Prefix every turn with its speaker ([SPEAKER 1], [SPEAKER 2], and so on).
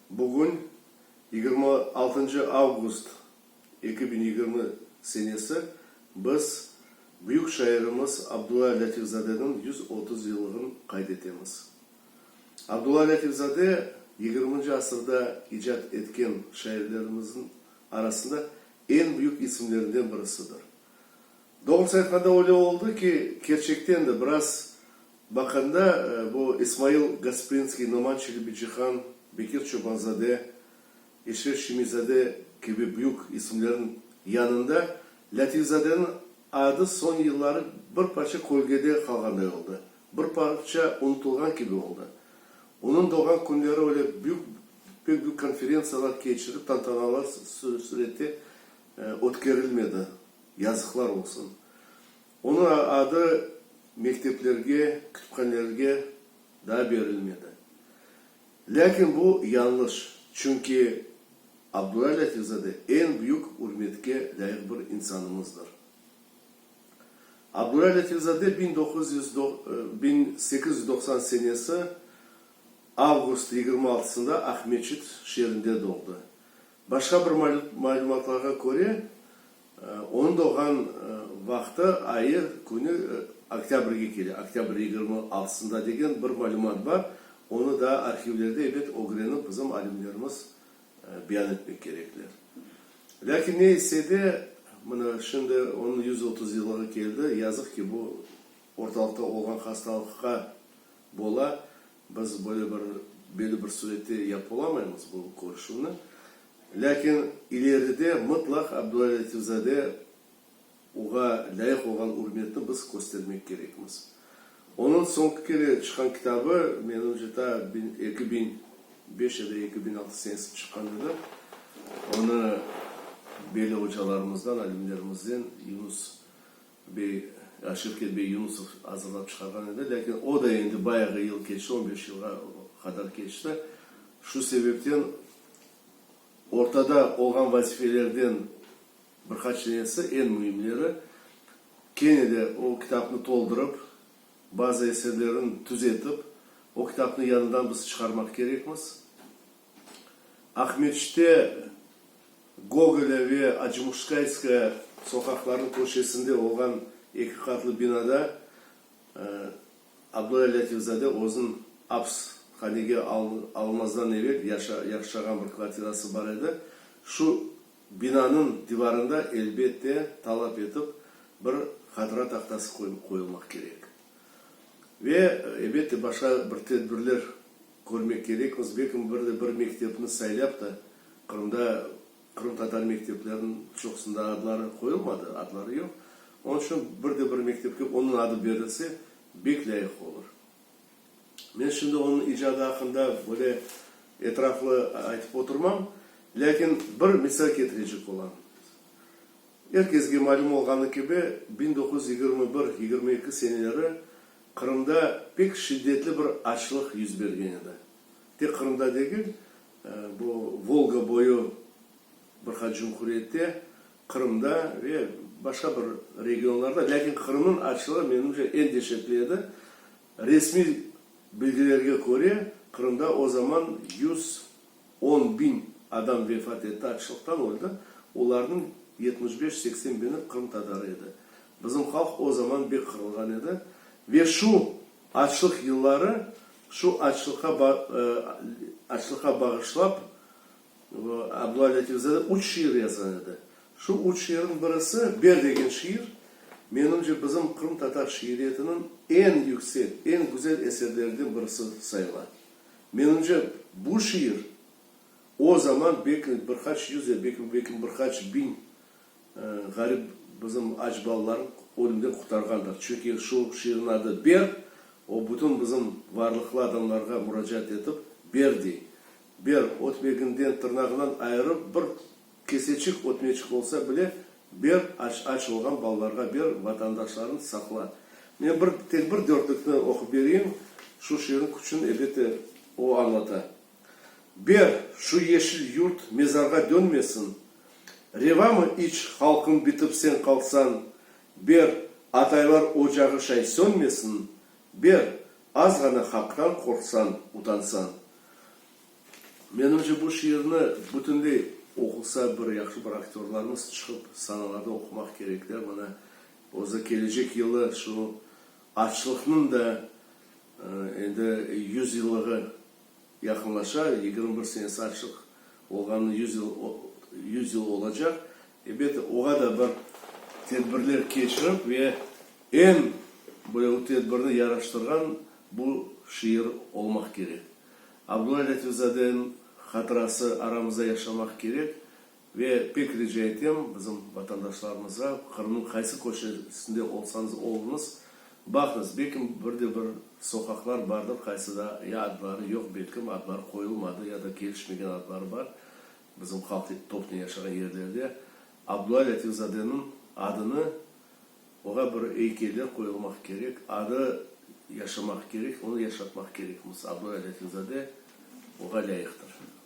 [SPEAKER 1] Bugün, yigirmi altıncı avgust eki biñ yigirmi senesi, biz büyük şairimiz Abdulla Lâtifzadeniñ yüz otuz yıllığın qayd etemiz. Abdulla Lâtifzade yigirminci asırda icat etken şairlerimizniñ arasında eñ büyük isimlerinden birisidir. Doğrusı aytqanda öyle oldı ki, kerçekten de, biraz baqanda, bu İsmail Gasprinskiy, Noman Çelebicihan, Bekir Çobanzade, Eşref Şemiyzade kibi büyük isimlerniñ yanında Lâtifzadeniñ adı soñ yılları bir parça kölgede qalğanday oldı, bir parça unutılğan kibi oldı. Onıñ doğğan künleri öyle büyük, pek büyük konferentsiyalar keçirip, tantanalar surette ötkerilmedi. Yazıqlar olsun! Onıñ adı mekteplerge, kütüphanelerge daa berilmedi. Lâkin bu yañlış, çünki Abdulla Lâtifzade eñ büyük ürmetke lâyıq bir insanımızdır. Abdulla Lâtifzade biñ doquz yüz biñ sekiz yüz doqsan senesi avgust yigirmi altısında Aqmescit şeerinde doğdı. Başqa bir malümatlarğa köre, onıñ doğğan vaqtı, ayı, künü oktâbrge kele, oktâbr yigirmi altısında degen bir malümat bar. Onı daa arhivlerde, ebet, ögrenip bizim alimlerimiz beyan etmek kerekler. Lâkin ne etse de, mına, şimdi onıñ yüz otuz yıllığı keldi, yazıq ki, bu ortalıqta olğan hastalıqqa bola, Biz böyle bir, belli bir sürette yapıp olamaymız bu körüşüvni, lâkin ileride mıtlaq Abdulla Lâtifzade oğa lâyıq olğan ürmetni biz köstermek kerekmiz. Onıñ soñki kere çıqqan kitabı, menimce, ta biñ eki biñ beş ya da eki biñ altı senesinde çıqqan edi. Onı belli ocalarımızdan, alimlerimizden Yunus. bey, Şevket bey Yunusov azırlap çıqarğan edi, lâkin o da endi bayağı yıl keçti, on beş yılğa qadar keçti. Şu sebepten ortada olğan vazifelerden bir qaç denesi, eñ müimleri, kene de o kitapnı toldurıp, bazı eserlerin tüzetip, o kitapnı yañıdan biz çıqarmaq kerekmiz. Aqmescitte Gogolâ ve Acımuşkayskaya soqaqlarınıñ köşesinde olğan eki qatlı binada Abdulâ Lâtifzade özüniñ aps hanege alınmazdan evel yaşağan bir kvartirası bar edi. Şu binanıñ divarında, elbette, talap etip bir hatıra tahtası qoyulmaq kerek. Ve, elbette, başqa bir tedbirler. Körmek kerek, özbekim bir de bir mektepni saylap da, Qırımda qırımtatar mektepleriniñ çoqusında adları qoyulmadı, adları yoq. Onıñ içün bir de bir mektepke onıñ adı berilse, bek lâyıq olur. Men şimdi onıñ icadı aqqında böyle etraflı aytıp oturmam, lâkin bir misal ketirecek olam. Er kesge malüm olğanı kibi, biñ doquz yüz yigirmi bir-yigirmi eki seneleri Qırımda pek şiddetli bir açlıq yüz bergen edi. Tek Qırımda degil, bu Volga boyu bir qaç cumhuriyette, Qırımda ve başqa bir regionlarda, lâkin Qırımnıñ açlığı, menimce, eñ deşetli edi. Resmiy bilgilerge köre, Qırımda o zaman yüz On biñ adam vefat etti, açlıqtan öldi, olarnıñ yetmiş beş-seksen biñi qırımtatar edi. Bizim halq o zaman bek qırılğan edi. Ve şu açlıq yılları, şu açlıqqa ba açlıqqa bağışlap, Abdulla Latifzade üç şiir yazğan edi. Şu üç şiirniñ birisi, Ber degen şiir, menimce, bizim qırımtatar şiiriyetiniñ eñ yüksek, eñ güzel eserleriden birisi sayıla. Menimce, bu şiir o zaman belki bir qaç yüz ya belki bir qaç biñ ğarip bizim aç balalarnı ölümden qurtarğandır. Çünki şu şiirniñ adı Ber, o bütün bizim varlıqlı adamlarğa muracaat etip, Ber dey. Ber, ötmeginden, tırnağından ayırıp bir Keseçik ötmeçik olsa bile ber, aç, aç olğan balalarğa ber, vatandaşlarıñ saqla. Men bir, tek bir dörtlükni oqup bereyim, şu şiirin küçün, elbette, o añlata. Ber, şu yeşil yurt mezarğa dönmesin. Revamı iç, halqım bitip sen qalsañ? Ber, ataylar ocağı şay sönmesin. Ber, azğana haqtan qorqsañ, utansañ. Menimce, bu şiirni bütünley oqusa bir yahşı bir aktörlarmız çıqıp sanalarda oqumaq kerek de, mına, özü kelecek yılı şu açlıqnıñ da endi yüz yıllığı yaqınlaşa, yigirmi bir senesi açlıq olğanına yüz yıl yüz yıl olacaq. Elbette, oğa da bir tedbirler keçirip ve eñ böyle o tedbirni yaraştırğan bu şiir olmaq kerek. Abdulay Latipzadeniñ hatırası aramızda yaşamaq kerek ve pek rica etem, bizim vatandaşlarımızğa, Qırımnıñ qaysı köşesinde olsañız oluñız, baqıñız, belki bir de bir soqaqlar bardır, qaysıda ya adları yoq, belki adları qoyulmadı ya da kelişmegen adları bar, bizim halq topnen yaşağan yerlerde Abdulay Latipzadeniñ adını Oğa bir eykeli qoyulmaq kerek, adı yaşamaq kerek, onı yaşatmaq kerekmiz. Abdulay Letinzade oğa lâyıqtır.